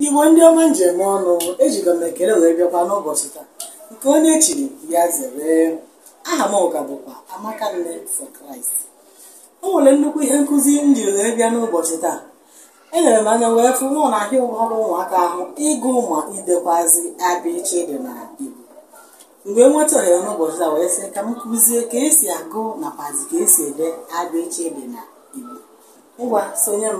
Igbo ndị ọma m ji eme ọnụ ejigo m ekele wee bịakwa n'ụbọchị taa nke onye chiri ya zere aha m ka bụkwa Amaka Nne for Christ o nwere nnukwu ihe nkụzi m jiri wee bịa n'ụbọchị taa elere m anya wee fụ na ọ na-ahịa ụfọdụ ụmụaka ahụ ịgụ ma idekwazi abịchịdị na Igbo m wee nweta ohere n'ụbọchị taa wee sị ka m kụzie ka esi agụ nakwazi ka esi ede abịchịdị na Igbo ngwa sonye m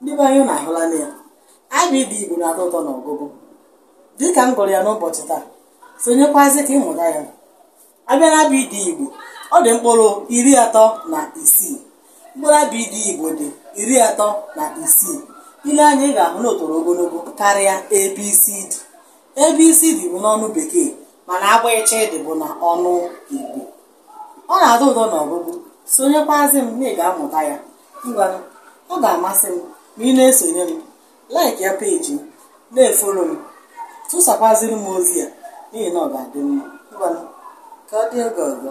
ndị be anyị unu ahụla na ya abịdị igbo na-atọ ụtọ na ọgụgụ dịka m gụrụ ya n'ụbọchị taa sonyekwazị ka ị mụta ya a bịa na abịdị igbo ọ dị mkpụrụ iri atọ na isii mkpụrụ abịdị igbo dị iri atọ na isii i lee anya ị ga-ahụ na o toro ogologo karịa ABCD ABCD bụ n'ọnụ bekee mana abịchịdị bụ na ọnụ igbo ọ na-atọ ụtọ n'ọgụgụ sonyekwazi m na ị ga-amụta ya ngwanụ ọ ga-amasị m ma ị na-esonye m like ya peji m na-efolo m tụsakwaziri m ozi ya n'ihi na ọ ga-adị mma ngwanụ ka ọ dị oge ọzọ